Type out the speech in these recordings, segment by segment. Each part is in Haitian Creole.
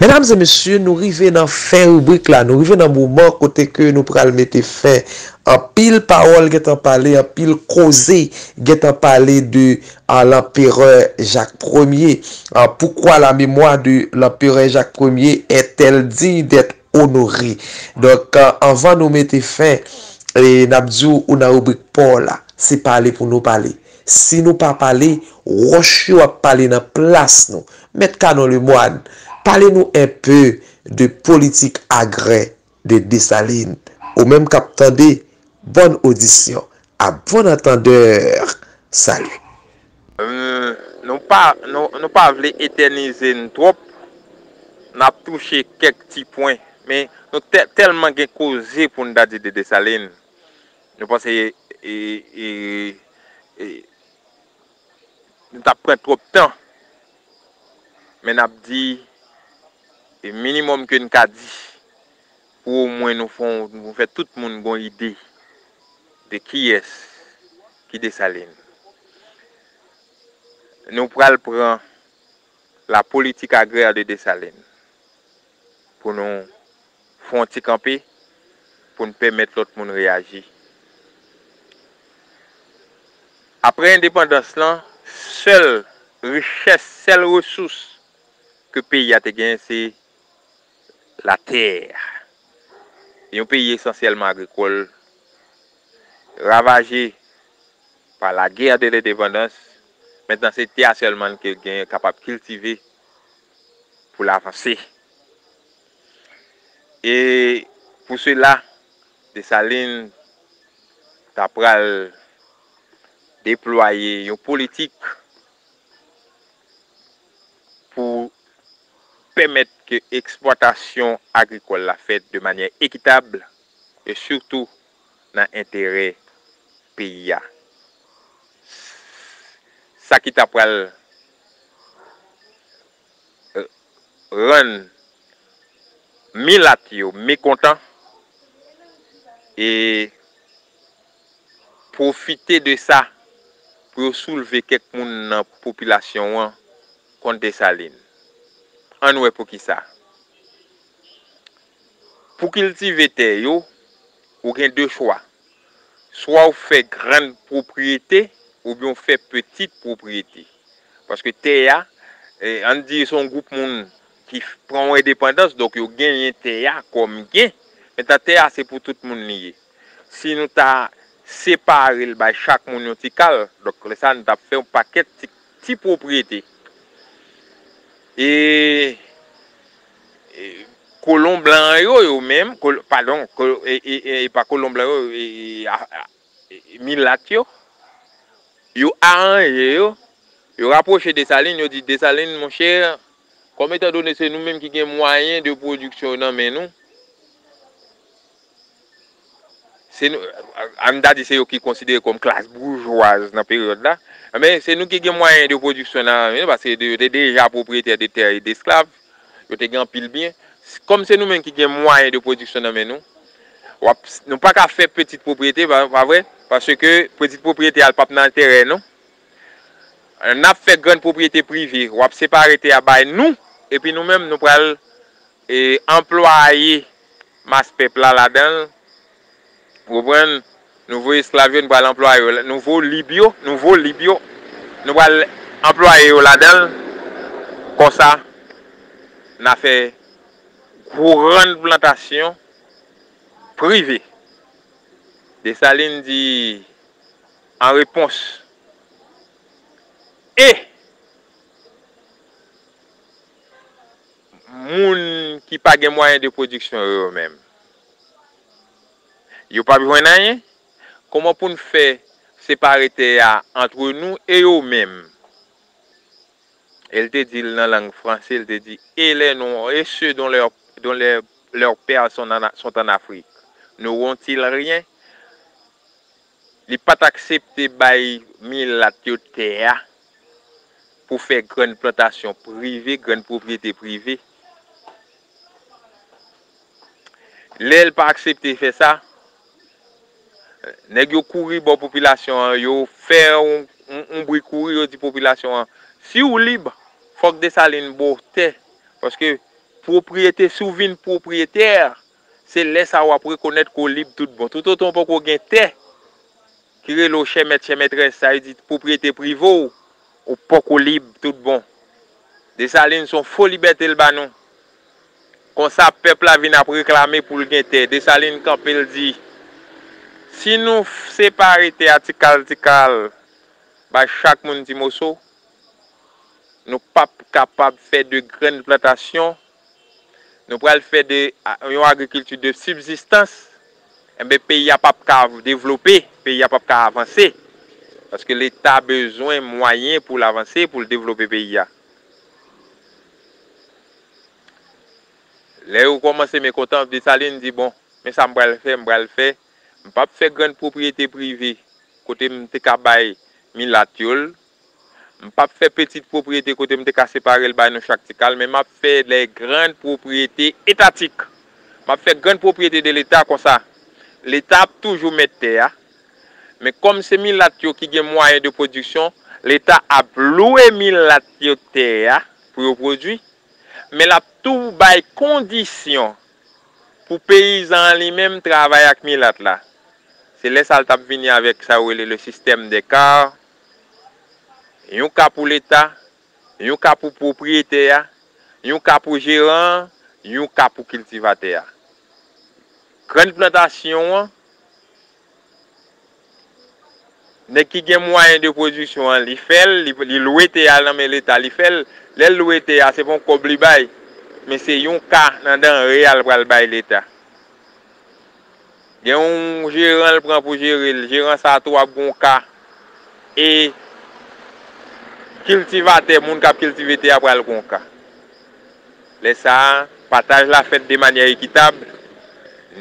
Medam e mesye nou rive nan fen ribrik la, nou rive nan moman kote ke nou pral mete fen. Anpil pawòl gentan pale, anpil koze gentan pale de a l'empereur Jacques Premier pourquoi la mémoire de l'empereur Jacques Premier est-elle digne d'être honorée donk anvan nou mete fen n'ap di ou nan ribrik paw la se pale pou nou pale si nou pa pale wòch yo ap pale nan plas nou mèt Canon Lemoine pale nou enpe de politik agrè de Desalin ou menm kap tande bòn odisyon a bon antandeur salut. Nou pa nou pa vle etènize n twòp nap touche kèk ti pwen men nou tèlman gen koze pou n ta di de Desalin nou panse Nou tap pran twop tan. Men nap di e minimum ke n ka di pou o mwen nou fon nou fè tout moun gon ide de kiyès ki Dessalines. Nou pral pran la politique agraire de Dessalines. pou nou fè yon ti kanpe pou n pèmèt lòt moun reyaji. Aprè endepandans lan, sèl richès, sèl resous ke peyi a te genyen se latè. Yon peyi esansyèlman agrikòl, ravaje pa la gè de lendepandans, mentnan se tè a sèlman ke gen kapab kiltive pou l avanse. E pou sela, Desalin t ap pral deplwaye yon politik pou pèmèt ke eksplwatasyon agrikòl la fèt de manyè ekitab e sitou nan enterè peyi a. Sa ki t ap pral rann milat yo mekontan e pwofite de sa pou yo soulve kèk moun nan popilasyon an kont Desalin. Ann wè poukisa. Pou kiltive tè yo, ou gen de chwa. Swa ou fè grann pwopriyete oubyen ou fè petit pwopriyete. Paske tè a, ann di se yon gwoup moun ki pran yon endepandans, donk yo genyen tè a kòm byen. Mentnan tè a se pou tout moun li ye. Si nou ta separe l bay chak moun yon ti kal, donk lè sa nou t ap fè yon pakèt ti pwopriyete. E Kolon blan yo, yo menm, padon, e pa kolon blan yo, milat yo, yo aranje yo, yo rapwoche Desalin, yo di Desalin, mon chè, kòm etandone se nou menm ki gen mwayen de pwodiksyon yo nan men nou, Se nou, an ta di se yo ki konsidere kòm klas boujwaz nan peryòd la, men se nou ki gen mwayen de pwodiksyon nan men nou, paske yo te deja pwopriyetè de tè e desklav, yo te gen anpil byen. Kòm se nou menm ki gen mwayen de pwodiksyon nan men nou, w ap, nou pa ka fè peti pwopriyete, pa vre? Paske peti pwopriyete a l pa p nan enterè nou. N ap fè grann pwopriyete prive, w ap separe tè a bay nou, epi nou menm nou pral E anplwaye mas pèp la ladan l. Ou konprann? Nouvo esklav yo, nou pral anplwaye yo. Nouvo lib yo, nouvo lib yo, nou pral anplwaye yo ladan l. Konsa, n a fè grann plantasyon prive. Desalin di an repons. E. Moun ki pa gen mwayen de pwodiksyon yo yo menm? Yo pap jwenn anyen? Kòman pou n fè separe tè a antre nou e yo menm? E l te di l nan lang franse, l te di, E lè nou, e sè don lè, don lè lè pè son an, sont en Afrique, n'auront-ils rien? Li pa t aksepte bay milat yo tè a pou fè grann plantasyon prive, grann pwopriyete prive. Lè l pa aksepte fè sa, nèg yo kouri bò popilasyon an, yo fè yon bri kouri, yo di popilasyon an, si w lib, fòk Desalin ba w tè, paske pwopriyete, si w vin pwopriyetè, Se lè sa a w ap rekonèt ke w lib tout bon. Toutotan w poko gen tè ki rele w chè mèt chè mètrès, sa vle di pwopriyete prive w, ou poko lib tout bon. Desalin se yon fo libète l ba nou. Konsa pèp la vin ap reklame pou l gen tè. Desalin kanpe l di, Si nou separe tè a ti kal ti kal, bay chak moun ti moso, nou pap kapab fè de grenn plantasyon Nou pral fè de yon agrikilti de sibzistans, enben peyi a pap ka devlope, peyi a pap ka avanse. Paske leta bezwen mwayen pou l avanse, pou l devlope peyi a. Lè yo kòmanse mekontan, Desalin di bon, men sa m pral fè, m pral fè, m pap fè grann pwopriyete prive kote m te ka bay milat yo l, M pap fè petit pwopriyete kote m te ka separe l bay nou chak ti kal men m ap fè lè grand pwopriyete etatik. M ap fè grand pwopriyete de leta konsa leta ap toujou mèt tè a men kòm se milat yo ki gen mwayen de pwodiksyon leta ap lwe milat yo tè a pou yo pwodwi men l ap tou bay kondisyon pou peyizan an li menm travay ak milat la se lè sa l t ap vini avèk sa yo rele le système des cares Yon ka pou leta, yon ka pou pwopriyetè a, yon ka pou jeran an, yon ka pou kiltivatè a. Grann plantasyon an, nèg ki gen mwayen de pwodiksyon an li fè l, li lwe tè a nan men leta li fè l, lè l lwe tè a se pa yon kòb li bay men se yon ka nan danre a l pral bay leta. Gen yon jeran l pran pou jere l, jeran sa tou ap gen yon ka e kiltivatè, moun k ap kiltive tè a pral gen yon ka. Lè sa a, pataj la fèt de manyè ekitab,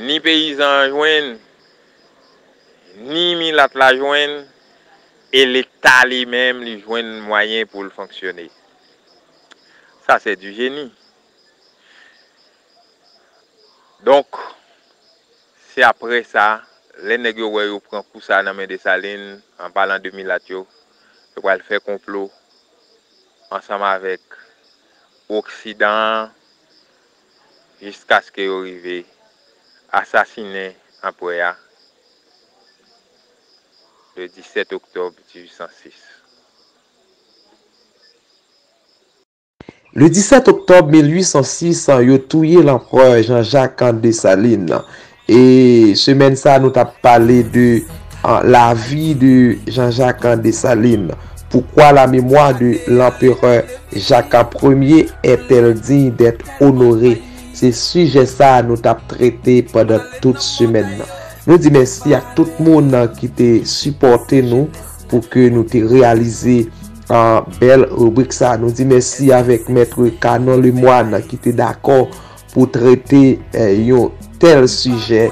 ni peyizan an jwenn, ni milat la jwenn e Leta li menm li jwenn mwayen pou l fonksyone. Sa se du génie. Donk, se apre sa, lè nèg yo wè yo pran kou sa a nan men Desalin, an palan de milat yo, yo pral fè konplo ansanm avèk oksidan an jiskaske yo rive asasinen anprè a le 17 oktòb 1806. Le 17 oktòb 1806, yo touye lanprè Jean-Jacques Dessalines. E semèn sa nou tap pale de lavi de Jean-Jacques Dessalines. Poukwa la memwa de lanperè Jacques Ier est-elle digne d'être honorée? Se sijè sa nou tap trete pandan tout semèn nan. Nou di mèsi ak tout moun ki te sipòte nou pou ke nou te reyalize. Ahh bèl ribrik sa nou di mèsi avèk Maitre Canon Lemoine ki te dakò pou trete yon tèl sijè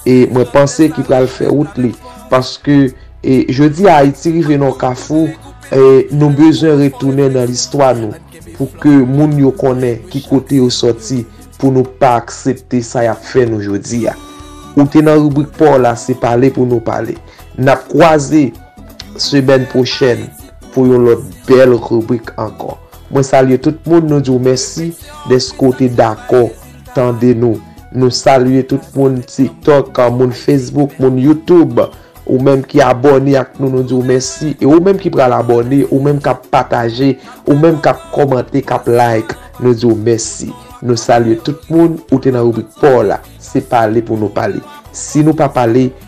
e mwen panse ki pral fè wout li paske e jodi a Ayiti rive nan yon kafou e nou bezwen retounen nan listwa nou pou ke moun yo konnen ki kote yo sòti pou nou pa aksepte sa yap fè nou jodi a ou te nan ribrik paw la se pale pou nou pale nap kwaze. semèn pwochèn pou yon lòt bèl ribrik ankò. Mwen salye tout moun, nou di w mèsi dèske w te dakò tande nou. Nou salye tout moun TikTok, moun Facebook, moun YouTube. Ou menm ki abòne ak nou, nou di w mèsi. E ou menm ki pral abòne, ou menm k ap pataje, ou menm k ap kòmante, k ap like, nou di w mèsi. Nou salye tout moun, ou te nan ribrik pa w la, se pale pou nou pale. Si nou pa pale.